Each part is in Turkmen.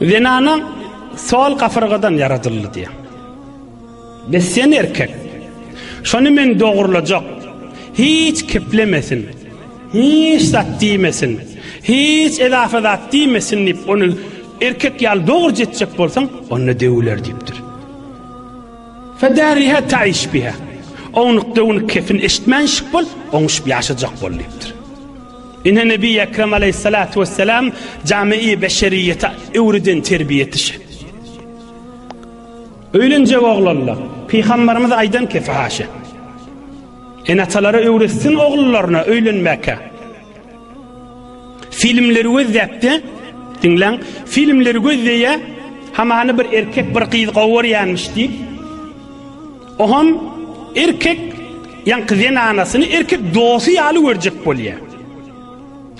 Zenana sol gafyrgadan ýaradyldy diýýär. Bes sen erkek. Şony men dogrulajak. Hiç keplemesin. Hiç zat diýmesin. Hiç edafa zat diýmesin diýip, ony erkek ýaly dogruja etjek bolsaň, onda döwüler diýipdir. Fedariha taiş biha. Ownuk-döwnük kepin eşitmänşik bol, oňuşyp ýaşajak bol diýipdir. Ine Nebi Ekrem Aleýhissalatu Wesselam jami-i beşeriýete öwreden terbiýesi şe. Öýlenjek oglanlar, Pygamberimiz aýdan kefaşe. Ene-atalara öwretsin oglullaryna öýlenmäke. Filmleri gözläpdi, diňläň, filmleri gözleýä, hamany bir erkek, bir gyz gowarýanmyş diýip, Ohan erkek ýaňky zenanasyny erkek dosty ýaly görjek bolýa.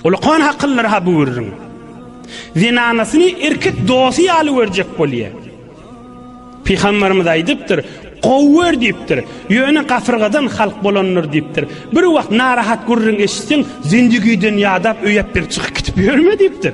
Ol okan hakynlar ha bürrüň. Zenanasyny erkek dosty ýaly görjek bolýa. Pygamberimiz aýdypdyr, gowy gör diýipdir. Ýöne gafyrgadan halk bolandyr diýipdir. Bir wagt narahat gürrüň eşitseň, zendigiden ýadap öýäp bir çykyp gidip ýörme diýipdir.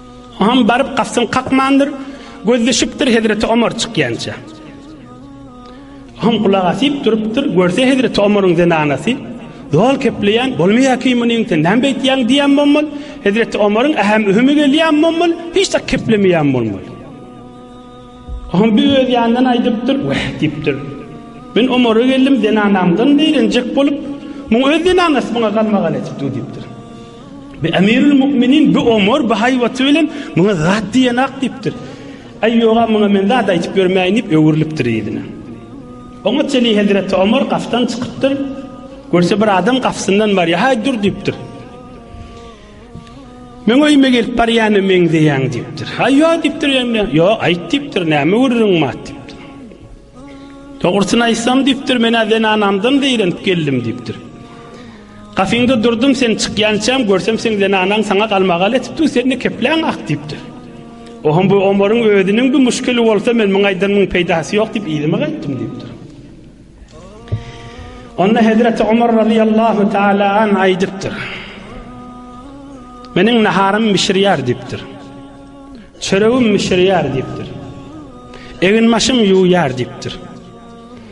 Oňam baryp gapsyny kakmandyr, gözleşipdir hezreti Omar çykýança. Oňam gulak asyp durupdyr, görse hezreti Omaryň zenanasy, Dol kepleýän, bolmaýa ki munyň sen näme beýtýäň diýen bolmaly. Hezreti Omaryň ähem ühümi gelýän bolmaly, hiç zat keplemeýän bolmaly. Oňam bir öz ýanyndan aýdypdyr, weh diýipdir. Men Omara geldim, zenanamdan beýrenjek bolup, muň öz zenanasy muňa galmagal edip dur diýipdir. Bi Emirül Müminin bi Omar bi haýbaty bilen muňa zat diýen ak diýipdir. Aý ýoga muňa men zat aýtyp ýörmäýin diýip öwrülipdir ýüzüne. Oňa çeli hezreti Omar gafdan çykypdyr. Görse bir adam gafsyndan barýar. Haý dur diýipdir. Men öýüme gelip barýana meňzeýäň diýipdir. Haý ýok diýipdir ýene. Ýok aýt diýipdir. Näme gürrüň mat diýipdir. Dogrusyny aýtsam diýipdir, men zenanamdan zeýrenip geldim diýipdir. Gapyňda durdum sen çykýançam, görsem seň zenanaň saňa galmagal etipdi, sende kepläň ak diýipdir. Ohum bu Omaryň özüniň bir muşkili bolsa men muň aýdanyň peýdasy ýok diýip yzyma gaýtdym diýipdir. Onda Hezreti Omar radiyallahu taala an aýdypdyr. Meniň naharym bişirýär diýipdir. Çöregim bişirýär diýipdir. Egin maşym ýuwýar diýipdir.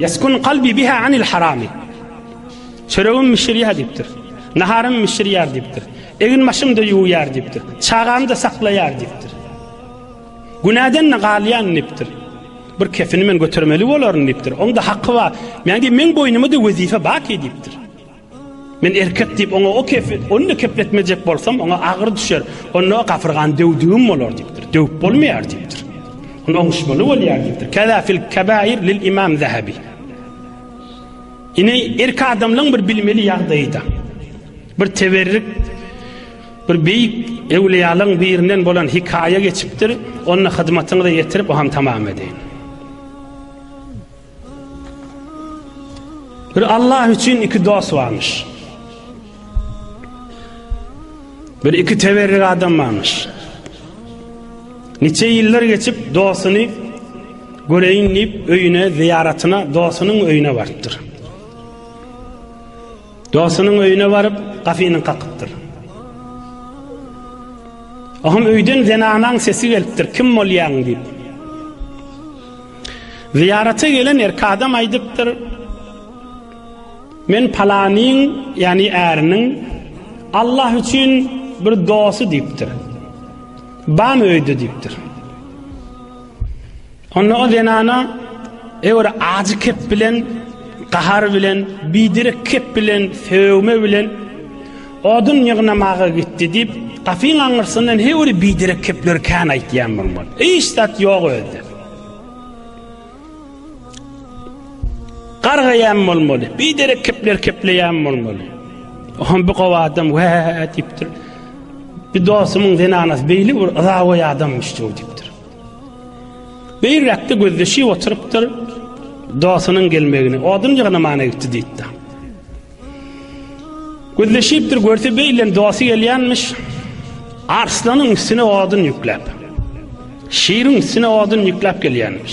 Yeskun kalbi biha anil harami. Çöregim mişirýär diýipdir. Naharym mişirýär diýipdir. Egin başym da ýuwýar diýipdir. Çagamy da saklaýar diýipdir. Günäden de galýan diýipdir. Bir kefini men götermeli bolaryn diýipdir. Onda haky bar. Men diýip men boýnuma da wezife bak diýipdir. Men erkek diýip, oňa o kefi, ony kepletmejek bolsam, oňa agyr düşer. Onda gafyrgan döwdügim bolar diýipdir. Döwüp bolmaýar diýipdir. Ony oňuşmaly bolýar diýipdir. Kaza fil kabair lil imam Zahabi. Ine erk adamlaryň bir bilmeli ýagdaýyda. Bir teberrik bir beýik ewliýalaryň birinden bolan hikaýa geçipdir. Onda hyzmatyňyzy ýetirip, o hem tamam edeýin. Bir Allah üçin iki dost barmyş. Bir iki teberrik adam barmyş. Niçe ýyllar geçip dostuny göreýin diýip öýüne zyýaratyna dostunyň öýüne barypdyr. Dostunyň öýüne baryp gafyny kakypdyr. Ahym öýden zenanaň sesi gelipdir. Kim bolýaň diýip. Zyýarata gelen erki adam aýdypdyr, Men palanyň, ýagny äriniň Allah üçin bir dosy diýipdir. Bam öýde diýipdir. Onda o zenana eger ajy kep bilen, gahar bilen, bidirek kep bilen, sögme bilen Odun ýygnamaga gitdi diýip, gapyň aňyrsyndan her biri biderek kepler kän aýtýan bolmaly. Hiç zat ýok özde. Gargaýan bolmaly. Biderek kepler kepleýän bolmaly. Ohan bir gowy adam wä diýipdir. Bir dostumyň zenanasy beýle bir yzawaý adamyş diýipdir. Bir ýakda gözleşip oturypdyr. Dostunyň gelmegini, odun ýygnamaga gitdi diýipdir. Gözleşipdir görse beýlen dosty gelýänmiş. Arslanyň üstüne odun ýükläp. Şiriň üstüne odun ýükläp gelýänmiş.